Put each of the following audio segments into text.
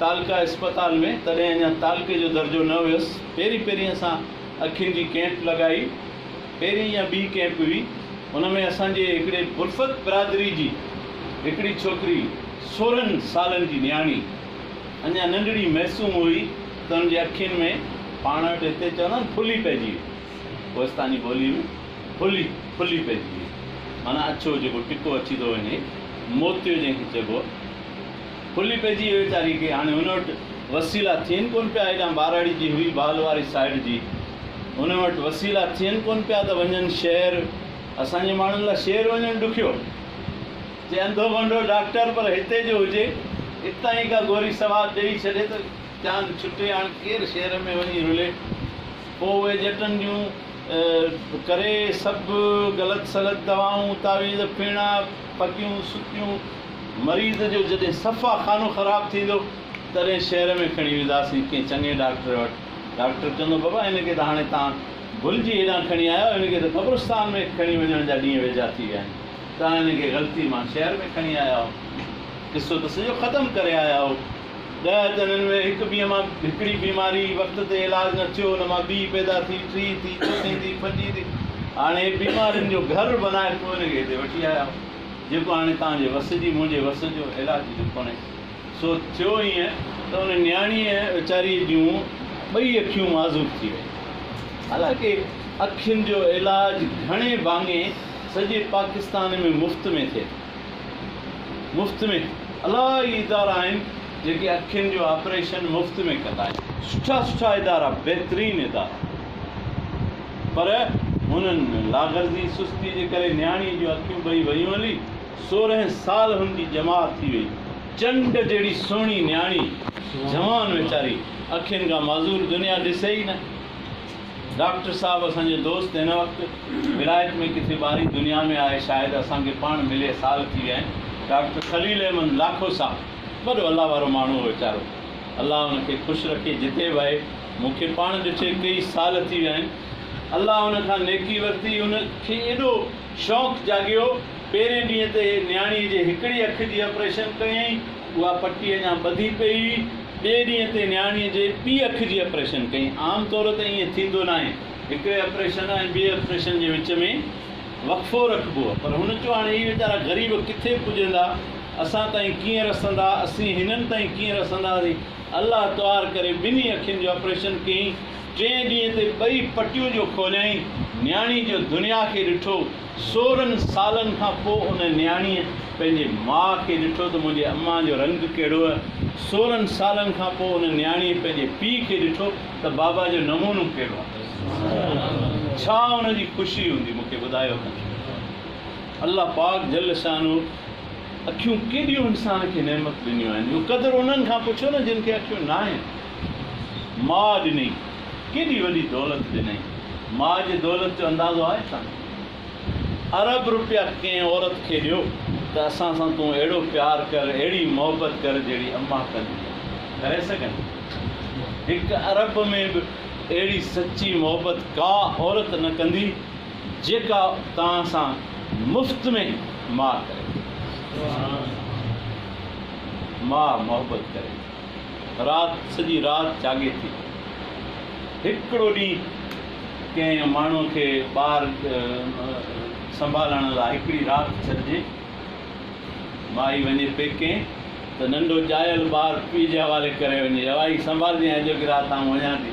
تعلقه اسپتال ۾ تڏهن اڃا تعلقي جو درجو نه هيس. پهرين پهرين اسان اکين جي ڪئمپ لڳائي. پهرين يا ٻي ڪئمپ هئي. ان ۾ اسان جي هڪڙي برفت برادري جي هڪڙي ڇوڪري سورهن سالن جي نياڻي اڃا ننڍڙي معصوم هئي ته ان جي اکين ۾ پاڻ وٽ هتي چوندا آهن ڦلي پئجي وئي. ڪوهستاني ٻوليء ۾ ڦلي، ڦلي پئجي وئي. معنيٰ اڇو جيڪو ٽڪو اڇي ٿو وڃي، موتيو جنهن کي چئبو آهي. کلي پئجي ويچاري کي هاڻي هن وٽ وسيلا ٿين ڪون پيا هيڏانهن ٻهراڙي جي هئي بال واري سائيڊ جي هن وٽ وسيلا ٿين ڪون پيا ته وڃن شهر اسان جي ماڻهن لاء شهر وڃڻ ڏکيو جي انڌو ڀنڊو ڊاڪٽر پر هتي جو هجي اتان ئي ڪا گوري سواد ڏئي ڇڏي ته جان ڇٽي هاڻ ڪير شهر ۾ وڃي رلي پوء اهي ڄٽن جون ڪري سڀ غلط سلط دوائون تعويذ ڦيڻا ڦڪيون سڪيون مريض جو جڏهن صفا خانو خراب ٿيندو تڏهن شهر ۾ کڻي وينداسين ڪنهن چڱي ڊاڪٽر وٽ. ڊاڪٽر چوندو بابا هن کي ته هاڻي توهان ڀلجي هيڏانهن کڻي آيا آهيو هن کي ته قبرستان ۾ کڻي وڃڻ جا ڏينهن ويجها ٿي ويا آهن توهان هن کي غلطي مان شهر ۾ کڻي آيا آهو قصو ته سڄو ختم ڪري آيا آهو ڏهه ته هنن ۾ هڪ بيهه مان هڪڙي بيماري وقت تي علاج نه ٿيو ان مان ٻي پيدا ٿي ٽي ٿي چوٿين ٿي پنجين ٿي هاڻي بيمارين جو گهر بنائي پوء هن کي هتي وٺي آيا آهو. جيڪو هاڻي توهان جي وس جي منهنجي وس جو علاج جو ڪونهي. سو ٿيو ائين ته ان نياڻيء ويچاريء جون ٻئي اکيون معذوب ٿي ويون. حالانڪه اکين جو علاج گهڻي ڀاڱي سڄي پاڪستان ۾ مفت ۾ ٿئي ٿو. مفت ۾ الاهي ادارا آهن. جيڪي اکين جو آپريشن مفت ۾ ڪندا آهن. سٺا سٺا ادارا بهترين ادارا پر هنن ۾ لاغرضي سستي جي ڪري نياڻي جون اکيون ٻئي ويون هلي سورهن سال هن جي ڄمار ٿي وئي چنڊ جهڙي سهڻي نياڻي جهوان ويچاري اکين کان معذور دنيا ڏسي ئي نه ڊاڪٽر صاحب اسان جو دوست هن وقت ولايت ۾ ڪٿي ٻاري دنيا ۾ آهي شايد اسان کي پاڻ ملي سال ٿي ويا آهن ڊاڪٽر خليل احمد لاکو صاحب. وڏو الله وارو ماڻهو هو ويچارو. الله ان کي خوش رکي جتي به آهي. مون کي پاڻ ڏٺي ڪيئي سال ٿي ويا آهن. الله ان کان نيڪي ورتي. ان کي ايڏو شوق جاڳيو. پهرين ڏينهن تي نياڻي جي هڪڙي اک جي آپريشن ڪيائين. اها پٽي اڃا ٻڌي پئي هئي. ٻئي ڏينهن تي نياڻي جي ٻي اک جي آپريشن ڪيائين. عام طور تي ائين ٿيندو ناهي. هڪڙي آپريشن ۽ ٻئي آپريشن جي وچ ۾ وقفو رکبو. پر هن چيو هاڻي هي ويچارا غريب ڪٿي پڄندا. اسان تائين ڪيئن رسندا، اسين هنن تائين ڪيئن رسنداسين. الله طهار ڪري ٻنهي اکين جو آپريشن ڪيئين. ٽئين ڏينهن تي ٻئي پٽيون جو کوليائين. نياڻي جو دنيا کي ڏٺو. سورهن سالن کان پوء ان نياڻيء پنهنجي ماء کي ڏٺو ته منهنجي امان جو رنگ ڪهڙو هئه. سورهن سالن کان پوء ان نياڻيء پنهنجي پيء کي ڏٺو ته بابا جو نمونو ڪهڙو هئه. ڇا ان جي خوشي هوندي، مون کي ٻڌايو ڪنڌ. الله پاڪ جل شانه اکيون ڪيڏيون انسان کي نعمت ڏنيون آهن اهو قدر انهن کان پڇو نه جن کي اکيون ناهن ماء ڏني ڪيڏي وڏي دولت ڏنئي ماء جي دولت جو اندازو آهي ڇا ارب رپيا ڪنهن عورت کي ڏيو ته اسان سان تون اهڙو پيار ڪر اهڙي محبت ڪر جهڙي اما ڪندي آهي ڪري سگهن هڪ ارب ۾ به اهڙي سچي محبت ڪا عورت نه ڪندي جيڪا توهان سان مفت ۾ ماء ڪري ٿي. ماء محبت ڪري ٿي. رات سڄي رات جاڳي ٿي. هڪڙو ڏينهن ڪنهن ماڻهو کي ٻار سنڀالڻ لاء هڪڙي رات ڇڏجي. مائي وڃي پيڪي ته ننڍو ڄايل ٻار پيء جي حوالي ڪري وڃي. اها ئي سنڀالجانء اڄوڪي رات آئون وڃان ٿي.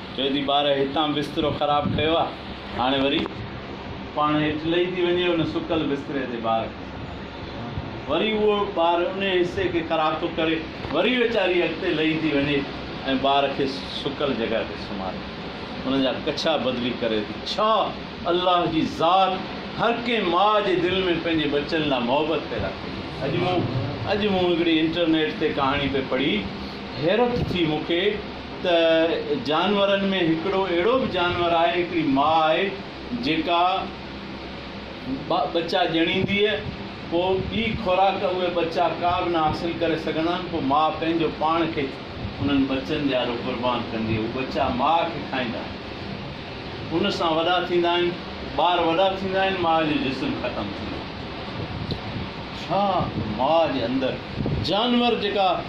چوي ٿي ٻار هتان بسترو خراب ڪيو آ هاڻي وري پاڻ هيٺ لهي ٿي وڃي ان سڪل بستري تي ٻار کي وري اهو ٻار انهي حصي کي خراب ٿو ڪري وري ويچاري اڳتي لهي ٿي وڃي ۽ ٻار کي سڪل جڳهه تي سمهاري ان جا ڪڇا بدلي ڪري ٿي ڇا الله جي ذات هر ڪنهن ماء جي دل ۾ پنهنجي ٻچن لاء محبت پيدا ڪئي اڄ مون اڄ مون هڪڙي انٽرنيٽ تي ڪهاڻي پئي پڙهي حيرت ٿي مون کي ته جانورن ۾ هڪڙو اهڙو به جانور آهي، هڪڙي ماء آهي جيڪا ٻچا ڄڻينديء، پوء ٻي خوراڪ اهي ٻچا ڪا به نه حاصل ڪري سگهندا آهن، پوء ماء پنهنجو پاڻ کي انهن ٻچن جيارو قربان ڪندي، اهي ٻچا ماء کي کائيندا آهن، ان سان وڏا ٿيندا آهن، ٻار وڏا ٿيندا آهن، ماء جو جسم ختم ٿيندو آهي. ڇا ماء جي اندر جانور جيڪا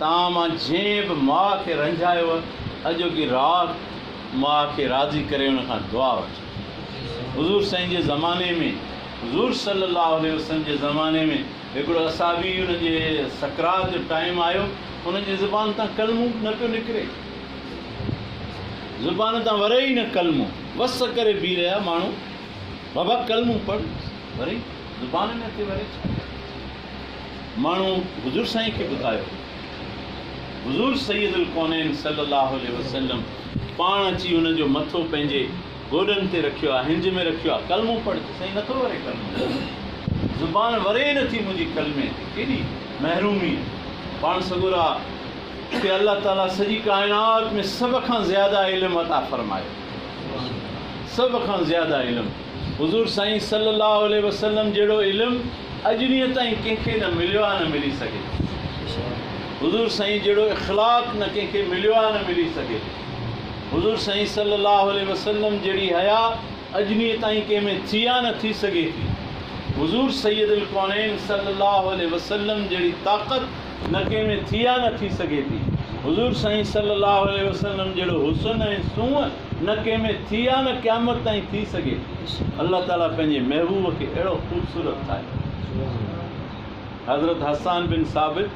تان مان جنهن به ماء کي رنجايو اڄوڪي رات ماء کي راضي ڪري ان کان دعا وٺي حضور سائين جي زماني ۾ حضور صلي الله عليه وسلم جي زماني ۾ هڪڙو اصحابي ان جي سڪرات جو ٽائيم آيو ان جي زبان تان ڪلمو به نه پيو نڪري زبان تان وري ئي نه ڪلمو وس ڪري بيهي رهيا ماڻهو بابا ڪلمو پڙ وري زبان نه ٿي وري ڇا ماڻهو حضور سائين کي ٻڌايو حضور سيد الڪونين صلي الله عليه وسلم پاڻ اچي انهن جو مٿو پنهنجي گوڏن تي رکيو آ هنج ۾ رکيو آ ڪلمو پڙهه چي سائين نٿو وري ڪلمو زبان وري ئي نٿي منهنجي ڪلمي تي ڪيڏي محرومي پاڻ سڳورا کي الله تعالي سڄي ڪائنات ۾ سڀ کان زياده علم عطا فرمايو سڀ کان زياده علم حضور سائين صلّي اللّٰه عليه وسلّم جهڙو علم اڄ ڏينهن تائين ڪنهن کي نه مليو آ نه ملي سگهي ٿو. حضور سائين جهڙو اخلاق نه ڪنهن کي مليو آ نه ملي سگهي ٿو. حضور سائين صلّي اللّٰه عليه وسلّم جهڙي حيا اڄ ڏينهن تائين ڪنهن ۾ ٿي آ نه ٿي سگهي ٿي. حضور سيد الڪونين صلّي اللّٰه عليه وسلّم جهڙي طاقت نه ڪنهن ۾ ٿي آ نه ٿي سگهي ٿي. حضور سائين صلّي اللّٰه عليه وسلّم جهڙو حسن ۽ سونهن نه ڪنهن ۾ ٿي آ نه قيامت تائين ٿي سگهي ٿي الله تعالي پنهنجي محبوب کي اهڙو خوبصورت ٺاهيو حضرت حسان بن ثابت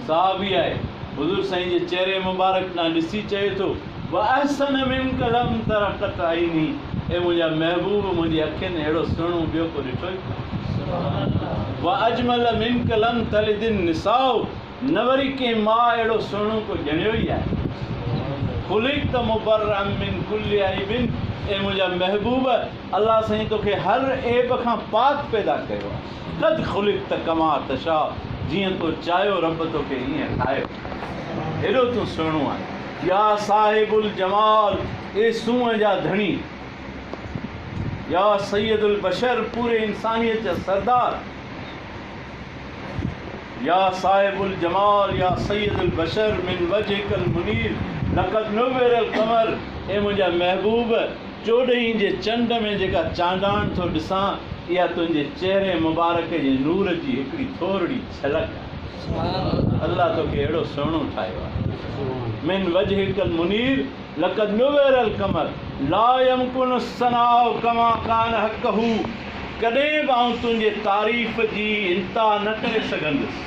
صحابي آهي حضور سائين جي چهري مبارڪ ڏانهن ڏسي چئي ٿو واحسن من قلم ترقت عيني اي منهنجا محبوب منهنجي اکين اهڙو سهڻو ٻيو ڪو ڏٺو ئي ڪانه واجمل من قلم تلد النساء نه وري ڪنهن ماء اهڙو سهڻو ڪو ڄڻيو ئي آهي. خلقت مبرءا من کل عيب اي منهنجا محبوب الله سائين توکي هر عيب کان پاڪ پيدا ڪيو آهي. قد خلقت ڪما تشاء جيئن تو چاهيو رب توکي ايئن ٺاهيو آهي. هيڏو تون سهڻو آهين. يا صاحب الجمال اي سونهن جا ڌڻي. يا سيد البشر پوري انسانيت جا سردار. يا صاحب الجمال يا سيد البشر من وجهک المنير لقد نور القمر اي منهنجا محبوب چوڏهين جي چنڊ ۾ جيڪا چانڊاڻ ٿو ڏسان اها تنهنجي چهري مبارڪ جي نور جي هڪڙي ٿورڙي جهلڪ آهي الله توکي اهڙو سهڻو ٺاهيو آهي من وجهک المنير لقد نور القمر لا يمڪن الثناء كما كان حقه ڪڏهن به آئون تنهنجي تعريف جي انتها نه ڪري سگهندس،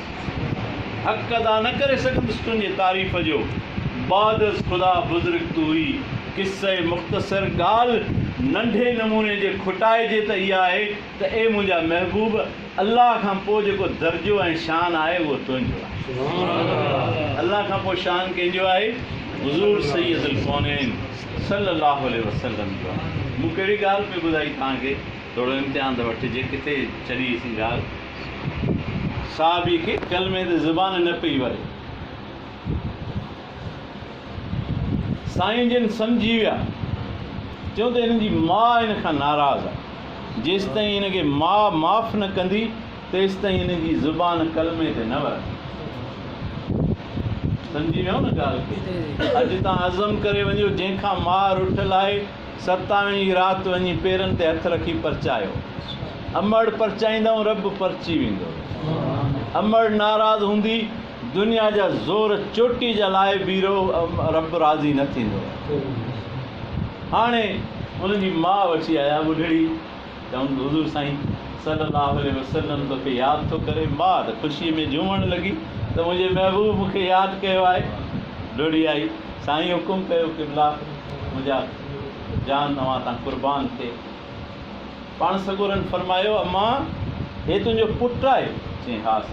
حق ادا نه ڪري سگهندس تنهنجي تعريف جو، بعد از خدا بزرگ تو ئي، قصه مختصر ڳالهه ننڍي نموني جي کٽائجي ته اها آهي ته اي منهنجا محبوب! الله کان پوء جيڪو درجو ۽ شان آهي اهو تنهنجو آهي. الله کان پوء شان ڪنهن جو آهي؟ حضور سيد الڪونين صلّي اللّٰه عليه وسلّم جو آهي. مون ڪهڙي ڳالهه پئي ٻڌائي توهان کي؟ ٿورو امتحان ته وٺجي ڪٿي ڇڏي اسين ڳالهه. صحابي کي ڪلمي تي زبان نه پئي وڙي. سائين جن سمجهي ويا. چيو ته هن جي ماء هن کان ناراض آهي. جيستائين هن کي ماء معاف نه ڪندي تيستائين هن جي زبان ڪلمي تي نه ورندي. سمجهي ويو نه ڳالهه کي. اڄ تان عزم ڪري وڃو جنهن کان ماء رٺل آهي ستاوين ئي رات وڃي پيرن تي هٿ رکي پرچايو. امڙ پرچائيندؤن رب پرچي ويندو. امڙ ناراض هوندي. دنيا جا زور چوٽي جا لاء بيرو رب راضي نه ٿيندو هاڻي ان جي ماء وٺي آيا ٻڍڙي چون حضور سائين صلي الله عليه وسلم توکي ياد ٿو ڪري ماء ته خوشي ۾ جهومڻ لڳي ته منهنجي محبوب مون کي ياد ڪيو آهي ڊوڙي آئي سائين حڪم ڪيو قبلا منهنجا جان اوهان تان قربان ٿئي پاڻ سڳورن فرمايو امان هي تنهنجو پٽ آهي چئين هاس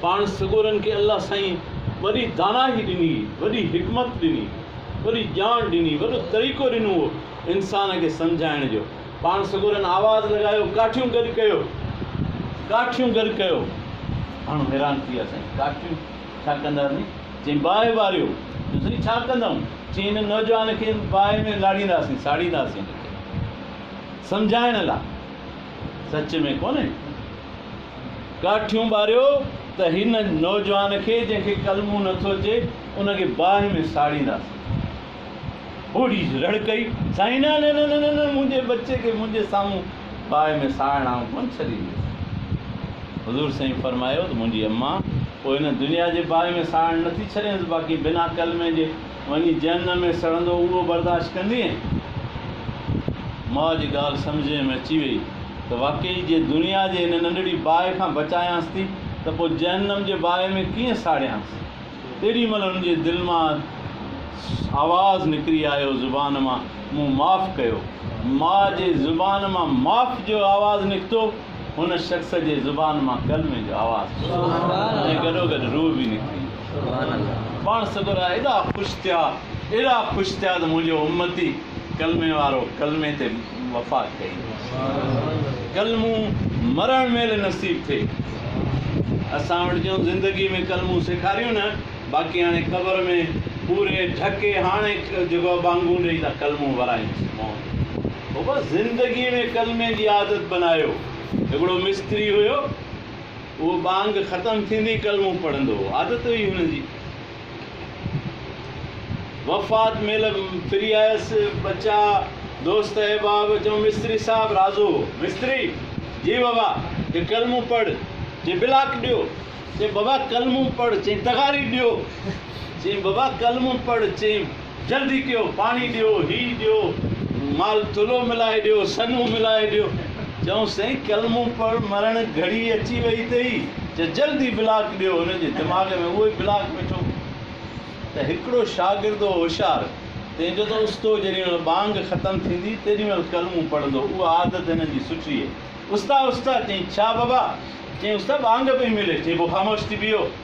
پاڻ سڳورن کي الله سائين وڏي داناهي ڏني، وڏي حڪمت ڏني، وڏي ڄاڻ ڏني، وڏو طريقو ڏنو هو انسان کي سمجهائڻ جو. پاڻ سڳورن آواز لڳايو، ڪاٺيون گڏ ڪيو، ڪاٺيون گڏ ڪيو. ماڻهو حيران ٿي ويا، سائين ڪاٺيون ڇا ڪندا سائين؟ چيائين باهه ٻاريو. چيو سائين ڇا ڪندم؟ چيائين هن نوجوان کي باهه ۾ لاڙينداسين، ساڙينداسين هن کي سمجهائڻ لا. سچ ۾ ڪونهي؟ ڪاٺيون ٻاريو ته هن نوجوان کي جنهن کي ڪلمو نه ٿو اچي ان کي باهه ۾ ساڙينداسين. ٻوڙي رڙڪئي، سائين نه نه نه نه نه منهنجي ٻچي کي منهنجي سامهون باهه ۾ ساڙڻ آئون ڪونه ڇڏينديس. حضور سائين فرمايو ته منهنجي امان پوء هن دنيا جي باهه ۾ ساڙڻ نه ٿي ڇڏينس باقي بنا ڪلمي جي وڃي جهنم ۾ سڙندو اهو برداشت ڪندينء؟ ماء جي ڳالهه سمجهه ۾ اچي ويئي ته واقعي جي دنيا جي هن ننڍڙي باهه کان بچايانس ٿي ته پوء جهنم جي باهه ۾ ڪيئن ساڙيانس؟ تيڏي مهل هن جي دل مان آواز نڪري آيو زبان مان مون معاف ڪيو. ماء جي زبان مان معاف جو آواز نڪتو. هن شخص جي زبان مان ڪلمي جو آواز پيو اٿي ۽ گڏوگڏ روح به نڪري ويو. پاڻ سڳورا ايڏا خوش ٿيا، ايڏا خوش ٿيا ته منهنجو امتي ڪلمي وارو ڪلمي تي وفا ڪئي. ڪلمو مرڻ مهل نصيب ٿئي. اسان وٽ جون زندگي ۾ ڪلمون سيکاريون نه باقي هاڻي قبر ۾ پوري ڍڪي هاڻي جيڪو ٻانگون ڏئي ته ڪلمون ورائينس. هو بس زندگيء ۾ ڪلمي جي عادت بنايو. هڪڙو مستري هيو، اهو ٻانگ ختم ٿيندي ئي ڪلمو پڙهندو هو. عادت هئي هن جي. وفات مهل ڦري آيس، ٻچا، دوست احباب چيو، مستري صاحب رازو هو. مستري، جي بابا، چي ڪلمو پڙهه، چي بلاڪ ڏيو، چي بابا ڪلمو پڙهه، چي تغاري ڏيو، چي بابا ڪلمو پڙهه، چي. جلدي ڪيو پاڻي ڏيو هي ڏيو مال ٿلهو ملائي ڏيو سنهو ملائي ڏيو چئون سائين ڪلمو پڙهه مرڻ گهڙي اچي وئي اٿئي چه جلدي بلاڪ ڏيو هن جي دماغ ۾ اهوئي بلاڪ ويٺو ته هڪڙو شاگرد هو هوشيار تنهن جو ته استو جيڏي مهل ٻانگ ختم ٿيندي تيڏي مهل ڪلمو پڙهندو اها عادت هن جي سٺي هئي استا استا چئين ڇا بابا چئين استا ٻانگ پئي ملي چئين پوء خاموش ٿي بيهو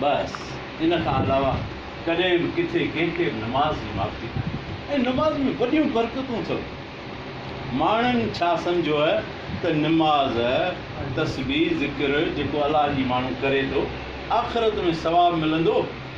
بس ان کان علاوه ڪڏهن به ڪٿي ڪنهن کي به نماز جي معافي ناهي ۽ نماز ۾ وڏيون برڪتون اٿو. ماڻهن ڇا سمجهيو آهي ته نماز، تسبيح، ذڪر جيڪو الله جي ماڻهو ڪري ٿو آخرت ۾ ثواب ملندو؟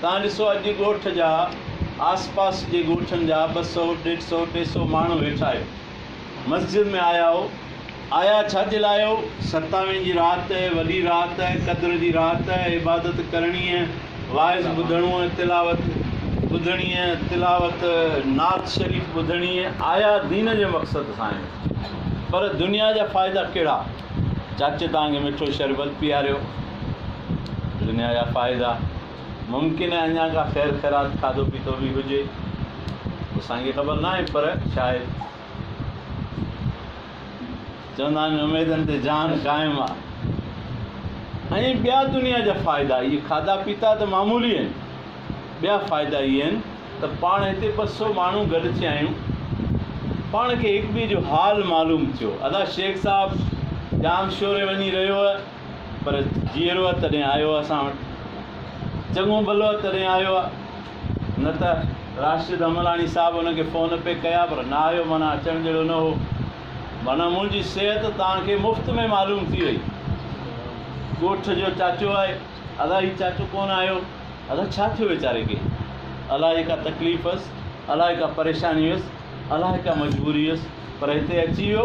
توهان ڏسو اڄ ڳوٺ جا آس پاس جي ڳوٺن جا ٻه سؤ، ڏيڍ سؤ، ٽي سؤ ماڻهو ويٺا آهيو. مسجد ۾ آيا آهو. آيا ڇا جي لاء آهيو؟ ستاوين جي رات، وڏي رات، قدر جي رات، عبادت ڪرڻي، واعظ ٻڌڻو، تلاوت ٻڌڻي، تلاوت نعت شريف ٻڌڻي، آيا دين جي مقصد سان آهيو. پر دنيا جا فائدا ڪهڙا؟ چاچي توهان کي مٺو شربت پياريو. دنيا جا فائدا، ممڪن آهي اڃا ڪا خير خيرات کاڌو پيتو به هجي، اسان کي خبر ناهي پر شايد چوندا آهن اميدن تي جان قائم آ ۽ ٻيا دنيا جا فائدا اهي کاڌا پيتا ته معمولي آهن ٻيا فائدا اهي آهن ته پاڻ هتي ٻه سو ماڻهو گڏجي آيون پاڻ کي هڪ ٻئي جو حال معلوم ٿيو ادا شيخ صاحب ڄام شوري وڃي رهيو پر جيئرو آ تڏهن آيو آ اسان وٽ چڱو ڀلو آ تڏهن آيو آ نه ته راشد حملاڻي صاحب ان کي فون پئي ڪيا پر نه آيو معنيٰ اچڻ جهڙو نه هو معنيٰ منهنجي صحت توهان کي مفت ۾ معلوم ٿي وئي ڳوٺ جو چاچو آهي ادا هي چاچو ڪونه آيو ادا ڇا ٿيو ويچاري کي الاهي ڪا تڪليف هئس الاهي ڪا پريشاني هئس الاهي ڪا مجبوري هئس پر هتي اچي ويو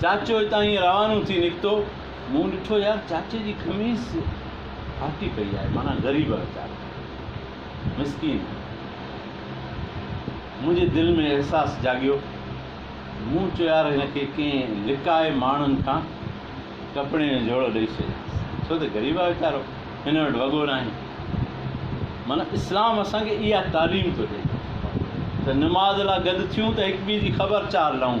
چاچو اتان ائين روانو ٿي نڪتو، مون ڏٺو يار چاچي جي خميس ڦاٽي پئي آهي، معنيٰ غريب ويچارو، مسڪين. منهنجي دل ۾ احساس جاڳيو، مون چيو يار هن کي ڪنهن لڪائي ماڻهن کان ڪپڙين جو جهوڙو ڏئي ڇڏيانس، ڇو ته غريب آهي ويچارو، هن وٽ وڳو ناهي. معنيٰ اسلام اسان کي اها تعليم ٿو ڏئي ته نماز لا گڏ ٿيون ته هڪٻئي جي خبر چار لهون.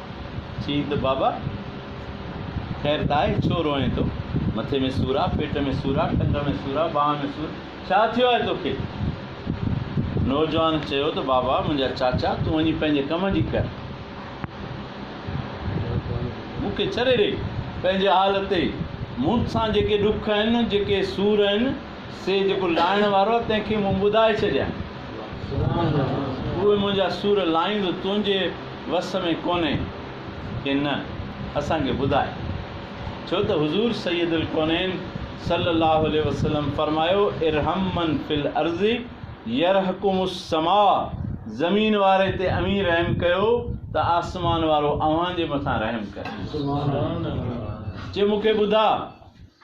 چيئين ته بابا! خير ته آهي، ڇو روئين ٿو؟ مٿي ۾ سور آ، پيٽ ۾ سور آ، ٽنگ ۾ سور آ، ٻانهن ۾ سور، ڇا ٿيو آهي توکي؟ نوجوان چيو ته بابا منهنجا چاچا تون وڃي پنهنجي ڪم جي ڪر. مون کي ڇڏي ڏي پنهنجي حال تي. مون سان جيڪي ڏک آهن، جيڪي سور آهن، سي جيڪو لائڻ وارو آ، تنهن کي مون ٻڌائي ڇڏيان. اهوئي منهنجا سور لاهيندو، تنهنجي وس ۾ ڪونهي ڪي نه، اسان کي ٻڌاء. ڇو ته حضور سيد الڪونين صلّي اللّٰه عليه وسلّم فرمايو، ارحم من في الارض يرحڪم السّماء، زمين واري تي اوهين رحم ڪيو ته آسمان وارو اوهان جي مٿان رحم ڪندو. چي مون کي ٻڌاء.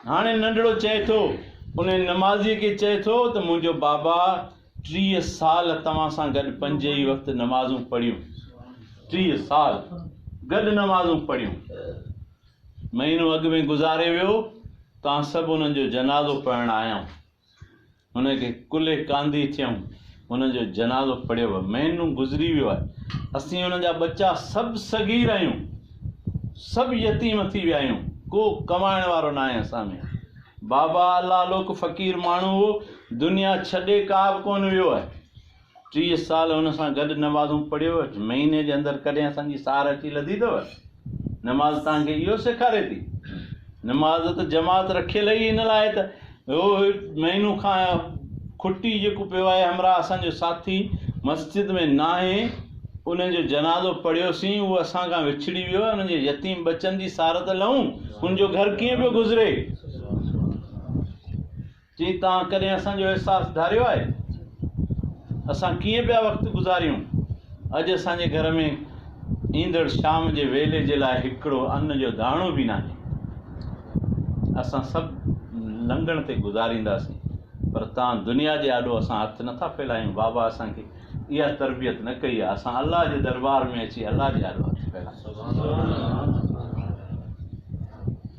هاڻي ننڍڙو چئي ٿو، انهيء نمازيء کي چئي ٿو ته منهنجو بابا ٽيهه سال توهان سان گڏ پنج ئي وقت نمازون پڙهيون. ٽيهه سال گڏ نمازون پڙهيون. مهينو اڳ ۾ گذاري ويو، توهان سڀ انهن جو جنازو پڙهڻ آيائون. هن کي ڪلهي ڪانڌي ٿيئون. هن جو جنازو پڙهيو ويو. مهينو گذري ويو آهي. اسين هن جا ٻچا سڀ صغير آهيون. سڀ يتيم ٿي ويا آهيون. ڪو ڪمائڻ وارو ناهي اسان ۾. بابا الله لوڪ فقير ماڻهو هو. دنيا ڇڏي ڪابه ڪونه ويو آهي. ٽيهه سال هن سان گڏ نمازون پڙهيو، مهيني جي اندر ڪڏهن اسان جي سار اچي لڌي اٿو؟ نماز توهان کي اهو سيکاري ٿي؟ نماز ته جماعت رکيل ئي ان لاء ته اهو مهينو کان کٽي جيڪو پيو آهي همراهه اسان جو ساٿي مسجد ۾ ناهي ان جو جنازو پڙهيوسين اهو اسان کان وڇڙي ويو ان جي يتيم ٻچن جي سار ته لهون ان جو گهر ڪيئن پيو گذري؟ چي توهان ڪڏهن اسان جو احساس ڌاريو آهي؟ اسان ڪيئن پيا وقت گذاريون؟ اڄ اسان جي گهر ۾ ايندڙ شام جي ويلي جي لاء هڪڙو ان جو داڻو به ناهي. اسان سڀ لنگڻ تي گذارينداسين پر توهان دنيا جي آڏو اسان هٿ نه ٿا ڦيلايون. بابا اسان کي اها تربيت نه ڪئي آهي. اسان الله جي دربار ۾ اچي الله جي آڏو هٿ ڦيلايون.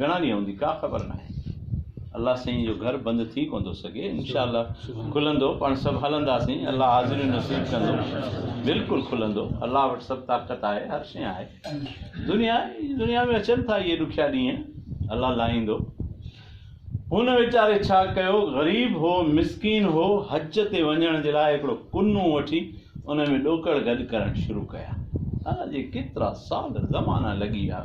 گهڻا ڏينهن هوندي ڪا خبر ناهي الله سائين جو گهر بند ٿي ڪونه ٿو سگهي انشاء الله کلندو پاڻ سڀ هلنداسين الله حاضريون نصيب ڪندو بلڪل کلندو الله وٽ سڀ طاقت آهي هر شيء آهي دنيا دنيا ۾ اچن ٿا اهي ڏکيا ڏينهن الله لاهيندو هن ويچاري ڇا ڪيو غريب هو مسڪين هو حج تي وڃڻ جي لاء هڪڙو ڪنو وٺي ان ۾ ڏوڪڙ گڏ ڪرڻ شروع ڪيا اڄ ڪيترا سال زمانا لڳي ويا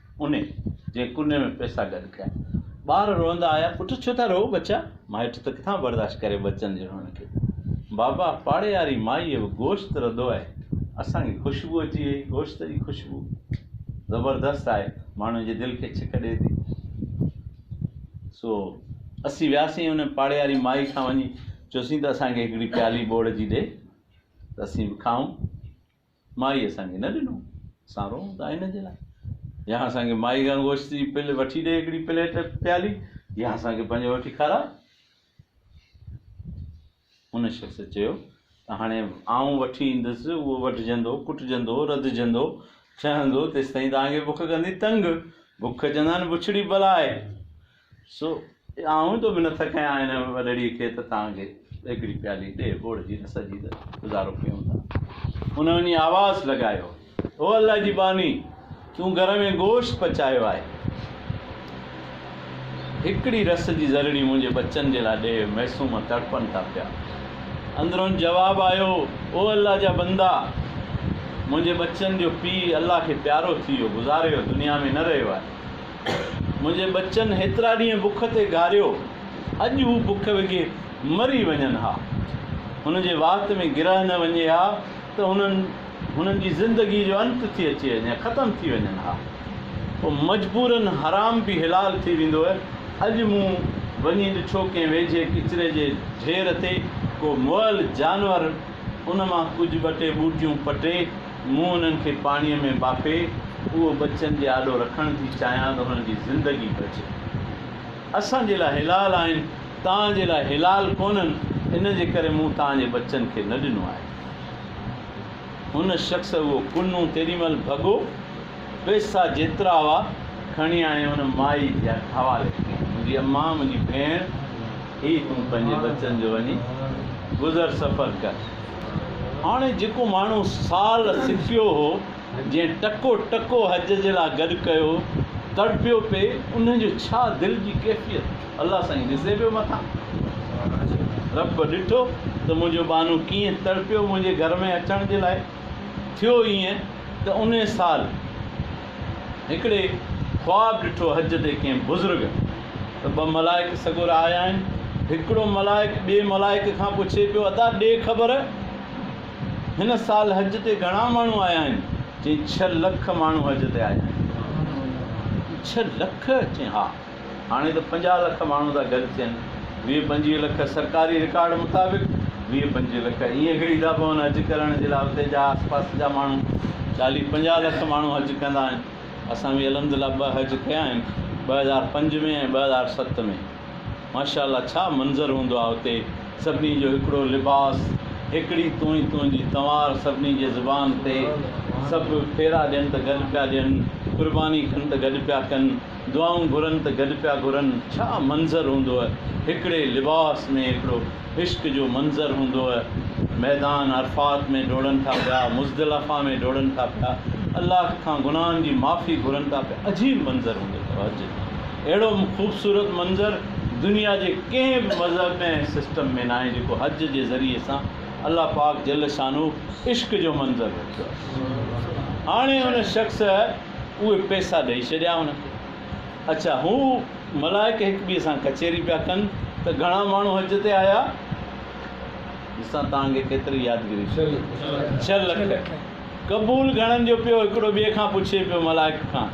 انهي جي ڪني ۾ پئسا گڏ ڪيا. ٻار روئندا آيا، پٽ ڇو ٿا روئو ٻچا؟ مائٽ ته ڪٿان برداشت ڪري ٻچن جي روئڻ کي. بابا پاڙي واري مائيء به گوشت رڌو آهي، اسان کي خوشبو اچي ويئي، گوشت جي خوشبو زبردست آهي، ماڻهن جي دل کي ڇڪ ڏئي ٿي. سو اسين وياسين ان پاڙي واري مائي کان وڃي چيوسين ته اسان کي هڪڙي پيالي ٻوڙ جي ڏي ته اسين به کائون. مائي اسان کي نه ڏنو، اسان روئون ٿا ان جي لاء. يا اسان کي مائي کان گوشت جي پل وٺي ڏي هڪڙي پليٽ، پيالي، يا اسان کي پنهنجو وٺي کاراء. ان شخص چيو ته هاڻي آئون وٺي ايندس، اهو وڍجندو، ڪٽجندو، رڌجندو، ڇهندو، تيستائين توهان کي بک ڪندي تنگ. بک چوندا آهن بڇڙي بلا آهي. سو آئون ٿو منٿ ڪيان هن وڏڙي کي ته تان کي هڪڙي پيالي ڏي ٻوڙ جي رس جي ته گذارو ڪيون ٿا. هن وڃي آواز لڳايو، او الله جي ٻانهي! تون گهر ۾ گوشت پچايو آهي. هڪڙي رس جي ذرڙي منهنجي ٻچن جي لاء ڏي، معصوم تڙپن ٿا پيا. اندرون جواب آيو، او الله جا بندا! منهنجي ٻچن جو پيء الله کي پيارو ٿي ويو، گذاري ويو، دنيا ۾ نه رهيو آهي. منهنجي ٻچن هيترا ڏينهن بک تي گهاريو، اڄ هو بک وگهي مري وڃن ها. هن جي وات ۾ گرهه نه وڃي ها ته هنن هنن جي زندگي جو انت ٿي اچي وڃي، ختم ٿي وڃن ها. پوء مجبورن حرام به حلال ٿي ويندو. اڄ مون وڃي ڏٺو ڪنهن ويجهي ڪچري جي ڍير تي ڪو مئل جانور ان مان ڪجهه ٻه ٽي ٻوٽيون پٽي، مون انهن کي پاڻيء ۾ ٻاڦي اهو ٻچن جي آڏو رکڻ ٿي چاهيان ته هنن جي زندگي بچي. اسان جي لاء حلال آهن، توهان جي لاء حلال ڪونهن، ان جي ڪري مون توهان جي ٻچن کي نه ڏنو آهي. هن شخص اهو ڪنو تيڏي مهل ڀڳو، پئسا جيترا هئا، کڻي آئي هن مائي جي حوالي ڪيا. منهنجي امان، منهنجي ڀيڻ، هي تون پنهنجي ٻچن جو وڃي گذر سفر ڪر. هاڻي جيڪو ماڻهو سال سڦيو هو، جنهن ٽڪو ٽڪو حج جي لاء گڏ ڪيو، تڙپيو پئي، انهي جو ڇا دل جي ڪيفيت الله سائين ڏسي پيو مٿان. رب ڏٺو ته منهنجو ٻانهو ڪيئن تڙپيو منهنجي گهر ۾ اچڻ جي لاء. ٿيو ائين ته انهي سال. هڪڙي خواب ڏٺو حج تي ڪنهن بزرگ ته ٻه ملائڪ سڳورا آيا آهن هڪڙو ملائڪ ٻئي ملائڪ کان پڇي پيو ادا ڏي خبر هن سال حج تي گهڻا ماڻهو آيا آهن چئين ڇهه لک ماڻهو حج تي آيا آهن ڇهه لک چئين ها هاڻي ته پنجاهه لک ماڻهو ٿا گڏ ٿين، ويهه پنجويهه لک سرڪاري رڪارڊ مطابق، ويهه پنجويهه لک ائين گهڙي ٿا پون حج ڪرڻ جي لاء اتي جا آس پاس جا ماڻهو، چاليهه پنجاهه لک ماڻهو حج ڪندا آهن، اسان به الحمد لله ٻه حج ڪيا آهن ٻه هزار پنج ۾ ۽ ٻه هزار ست ۾ ماشاء الله ڇا منظر هوندو آهي اتي سڀني جو هڪڙو لباس هڪڙي تونئي تون جي تنوار سڀني جي زبان تي سڀ ڦيرا ڏين ته گڏ پيا ڏين قرباني ڪن ته گڏ پيا ڪن. دعائون گهرن ته گڏ پيا گهرن ڇا منظر هوندوء هڪڙي لباس ۾ هڪڙو عشق جو منظر هوندوء ميدان عرفات ۾ ڊوڙن ٿا پيا مزدلفه ۾ ڊوڙن ٿا پيا الله کان گناهن جي معافي گهرن ٿا پيا عجيب منظر هوندو اٿو حج اهڙو خوبصورت منظر دنيا جي ڪنهن به مذهب ۾ ۽ سسٽم ۾ ناهي جيڪو حج جي ذريعي سان الله پاڪ جل شانه عشق جو منظر رکيو آهي هاڻي ان شخص اهي پئسا ڏئي ڇڏيا هن کي. اڇا هو ملائڪ هڪ ٻئي سان ڪچهري پيا ڪن ته گهڻا ماڻهو حج تي آيا؟ ڏسان توهان کي ڪيتري يادگيري ٿي. ڇهه لک. قبول گهڻن جو پيو هڪڙو ٻئي کان پڇي پيو ملائڪ کان.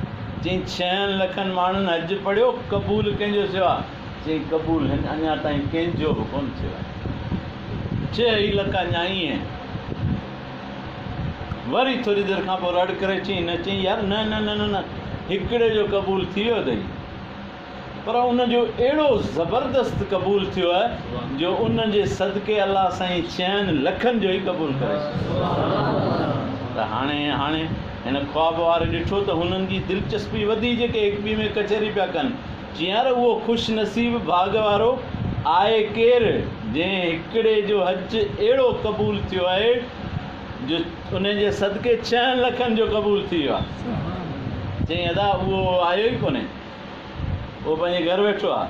چئين ڇهن لکن ماڻهن حج پڙهيو قبول ڪنهن جو ٿيو آهي؟ چئين قبول هن اڃا تائين ڪنهن جو به ڪونه ٿيو آهي. ڇهه ئي لک اڃا ائين آهن. وري ٿوري دير کان پوء رڙ ڪري چيئي نه چيئي يار نه نه نه نه نه هڪڙي جو قبول ٿي ويو اٿئي پر ان جو اهڙو زبردست قبول ٿيو آهي جو ان جي صدقي الله سائين چئن لکن جو ئي قبول ڪري ته هاڻي هاڻي هن خواب واري ڏٺو ته هنن جي دلچسپي وڌي جيڪي هڪ ٻي ۾ ڪچهري پيا ڪن چيار اهو خوش نصيب ڀاڳ وارو آهي ڪير، جنهن هڪڙي جو حج اهڙو قبول ٿيو آهي، جو ان جي صدقي ڇهن لکن جو قبول ٿي ويو آهي. چيائين ادا اهو آيو ئي ڪونهي، اهو پنهنجي گهر ويٺو آهي.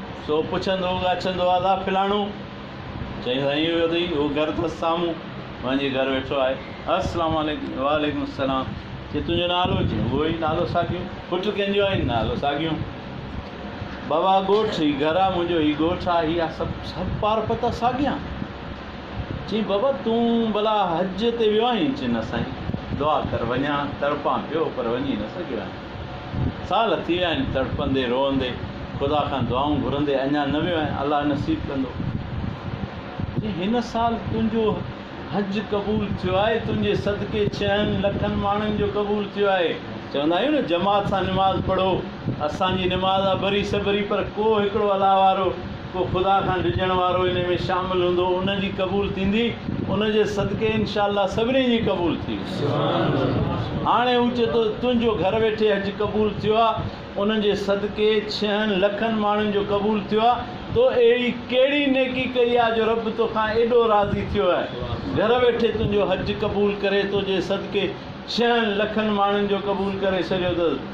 سو پڇندو ڳاڇندو آ لا فلاڻو؟ چئين سائين اهو اٿئي اهو گهر اٿس سامهون وڃي گهر ويٺو آهي. السلام عليڪم وعليڪم السلام چئين تنهنجو نالو؟ چئين اهو ئي نالو ساڳيو پٽ ڪنهن جو آهين؟ نالو ساڳيو بابا ڳوٺ هي گهر آ منهنجو هي ڳوٺ آ هي آ سڀ سڀ پار پتا ساڳيا چئين بابا تون ڀلا حج تي ويو آهين؟ چئين نه سائين دعا ڪر وڃان تڙپان پيو پر وڃي نه سگهيو آهيان. سال ٿي ويا آهن تڙپندي روئندي خدا کان دعائون گهرندي اڃا نه ويو آهيان الله نصيب ڪندو جي هن سال تنهنجو حج قبول ٿيو آهي تنهنجي صدقي ڇهن لکن ماڻهن جو قبول ٿيو آهي چوندا آهيون نه جماعت سان نماز پڙهو اسان جي نماز آ بري سبري پر ڪو هڪڙو الله وارو ڪو خدا کان ڊڄڻ وارو انهي ۾ شامل هوندو ان جي قبول ٿيندي ان جي صدقي انشاء الله سڀني جي قبول ٿي ويندي هاڻي هو چي ٿو تنهنجو گهر ويٺي حج قبول ٿيو آ ان جي صدقي ڇهن لکن ماڻهن جو قبول ٿيو آ تو اهڙي ڪهڙي نيڪي ڪئي آ جو رب توکان ايڏو راضي ٿيو آهي گهر ويٺي تنهنجو حج قبول ڪري توجي صدقي ڇهن لکن ماڻهن جو قبول ڪري ڇڏيو اٿس.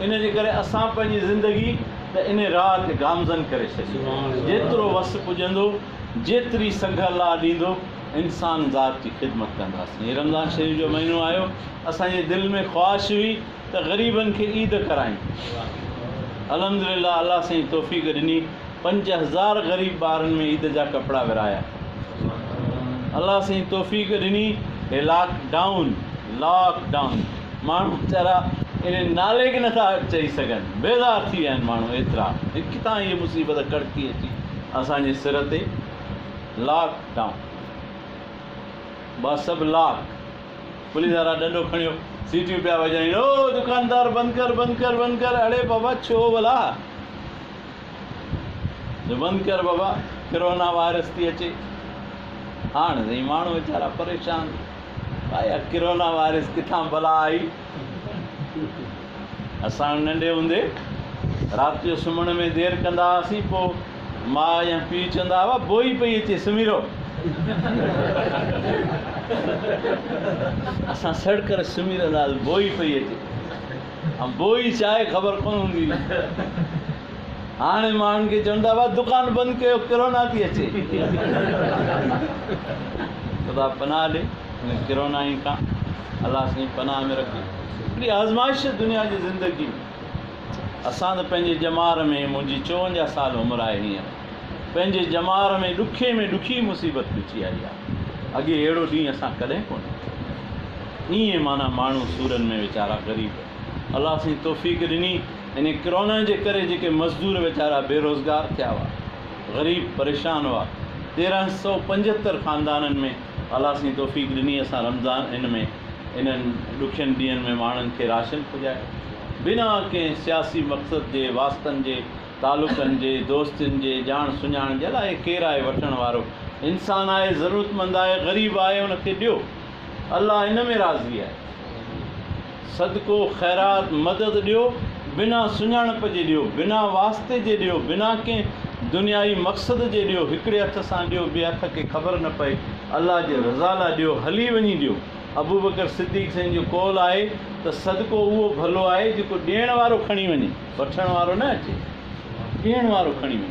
ان جي ڪري اسان پنهنجي زندگي ته انهي راهه تي گامزن ڪري ڇڏي آهي، جيترو وس پڄندو، جيتري سگهه الله ڏيندو، انسان ذات جي خدمت ڪنداسين. هي رمضان شريف جو مهينو آيو، اسان جي دل ۾ خواهش هئي ته غريبن کي عيد ڪرايون. الحمدلله الله سائين توفيق ڏني. پنج هزار غريب ٻارن ۾ عيد جا ڪپڙا ورهايا الله سائين توفيق ڏني هي لاڪ ڊائون Lock Down ماڻهو ويچارا ان نالي کي نٿا چئي سگهن بيزار ٿي ويا آهن ماڻهو ايترا ۽ ڪٿان هي مصيبت ڪڙڪي اچي اسان جي سر تي لاڪ ڊائون با سڀ لاڪ پوليس وارا ڏنڊو کڻيو سيٽيون پيا وڄائين او دڪاندار بند ڪر بند ڪر بند ڪر اڙي بابا ڇو ڀلا جو بند ڪر بابا ڪرونا وائرس ٿي اچي هاڻ سائين ماڻهو ويچارا پريشان آيا ڪرونا وائرس ڪٿان بلا آئي اسان ننڍي هوندي رات جو سمهڻ ۾ دير ڪندا هئاسين پوء ماء يا پيء چوندا هئا بوئي پئي اچي سمهي رهو اسان سڙ ڪري سمهي رهندا هئاسين بوئي پئي اچي بوئي چائي خبر ڪونه هوندي هئي هاڻي ماڻهن کي چون ٿا ڀاء دڪان بند ڪيو ڪرونا ٿي اچي خدا پناهه ڏي ان ڪرونا ئي کان الله سائين پناهه ۾ رکي هڪڙي آزمائش دنيا جي زندگي ۾ اسان ته پنهنجي ڄمار ۾ منهنجي چوونجاهه سال عمر آهي هينئر پنهنجي ڄمار ۾ ڏکي ۾ ڏکي مصيبت پچي آئي آ. اڳي اهڙو ڏينهن اسان ڪڏهن ڪونه ڏٺو. ايئن معنيٰ ماڻهو سورن ۾ ويچارا غريب. الله سائين توفيق ڏني ان ڪرونا جي ڪري جيڪي مزدور ويچارا بي روزگار ٿيا هئا. غريب پريشان هئا. تيرنهن سئو پنجهتر خاندانن ۾ الله سائين توفيق ڏني اسان رمضان ان ۾ انهن ڏکين ڏينهن ۾ ماڻهن کي راشن پڄايو. بنا ڪنهن سياسي مقصد جي واسطن جي. تعلقن جي، دوستين جي، ڄاڻ سڃاڻ جي، الاء ڪير آهي وٺڻ وارو. انسان آهي، ضرورتمند آهي، غريب آهي، ان کي ڏيو. الله ان ۾ راضي آهي. صدقو، خيرات، مدد ڏيو، بنا سڃاڻپ جي ڏيو، بنا واسطي جي ڏيو، بنا ڪنهن دنيائي مقصد جي ڏيو، هڪڙي هٿ سان ڏيو، ٻئي هٿ کي خبر نه پئي، الله جي رضا لاء ڏيو، هلي وڃي ڏيو. ابوبڪر صديق سائين جو قول آهي ته صدقو اهو ڀلو آهي جيڪو ڏيڻ وارو کڻي وڃي. وٺڻ وارو نه اچي، ڏيڻ وارو کڻي وڃي.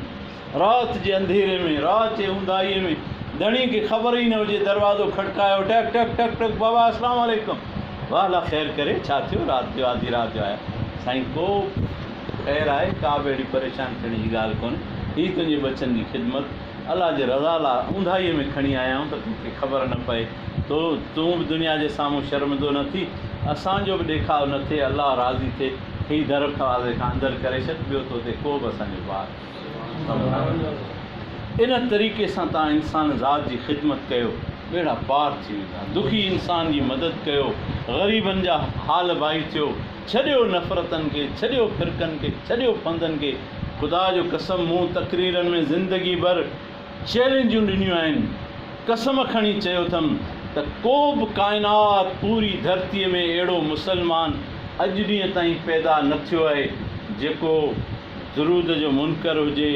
رات جي انڌيري ۾، رات جي اونداهيء ۾، ڌڻي کي خبر ئي نه هجي، دروازو کڙڪايو، ٽڪ ٽڪ، ٽڪ ٽڪ، بابا اسلام عليڪم! واه لا خير ڪري، ڇا ٿيو؟ رات جو آڌي رات جو آيا. سائين ڪو خير آهي، ڪا به اهڙي پريشان ٿيڻ جي ڳالهه ڪونهي. هي تنهنجي ٻچن جي خدمت، الله جي رضا لاء اونداهيء ۾ کڻي آيا آهيون ته تو کي خبر نه پئي، تون به دنيا جي سامهون شرمندو نه ٿي، اسان جو به ڏيکاء نه ٿئي، الله راضي ٿئي. هي در کاوي کان اندر ڪري ڇڏ ٻيو تو تي ڪوبه اسان جو بار سبحان الله ان طريقي سان تان انسان ذات جي خدمت ڪيو ٻيڙا پار ٿي ويندا دکي انسان جي مدد ڪيو غريبن جا حال بائي ٿيو ڇڏيو نفرتن کي ڇڏيو فرقن کي ڇڏيو ڦندن کي خدا جو قسم مون تقريرن ۾ زندگي ڀر چئلينجون ڏنيون آهن، قسم کڻي چيو اٿم ته ڪو به ڪائنات پوري ڌرتي ۾ اهڙو مسلمان اڄ ڏينهن تائين پيدا نه ٿيو آهي جيڪو درود جو منڪر هجي،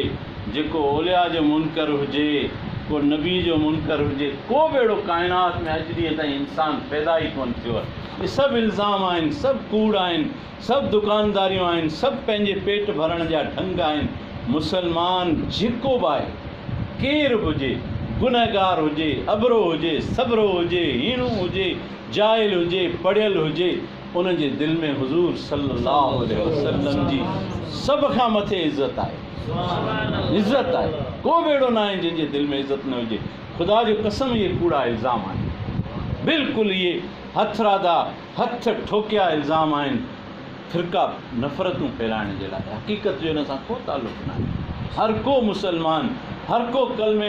جيڪو اولياء جو منڪر هجي، ڪو نبي جو منڪر هجي، ڪو به اهڙو ڪائنات ۾ اڄ ڏينهن تائين انسان پيدا ئي ڪونه ٿيو آهي. اهي سڀ الزام آهن، سڀ ڪوڙ آهن. سڀ دڪانداريون آهن، سڀ پنهنجي پيٽ ڀرڻ جا ڍنگ آهن، مسلمان جيڪو به آهي، ڪير به هجي، گنهگار هجي، ابرو هجي، سٻرو هجي، هيڻو هجي، جاهل هجي، پڙهيل هجي، ان جي دل ۾ حضور صلي الله عليه وسلم جي سڀ کان مٿي عزت آهي، عزت آهي، ڪو به اهڙو نه آهي جنهن جي دل ۾ عزت نه هجي، خدا جو قسم اهي ڪوڙا الزام آهن، بلڪل اهي هٿراڌا. هٿ ٺوڪيا الزام آهن فرقه نفرتون ڦيرائڻ جي لاء حقيقت جو ان سان ڪو تعلق ناهي هر ڪو مسلمان هر ڪو ڪلمي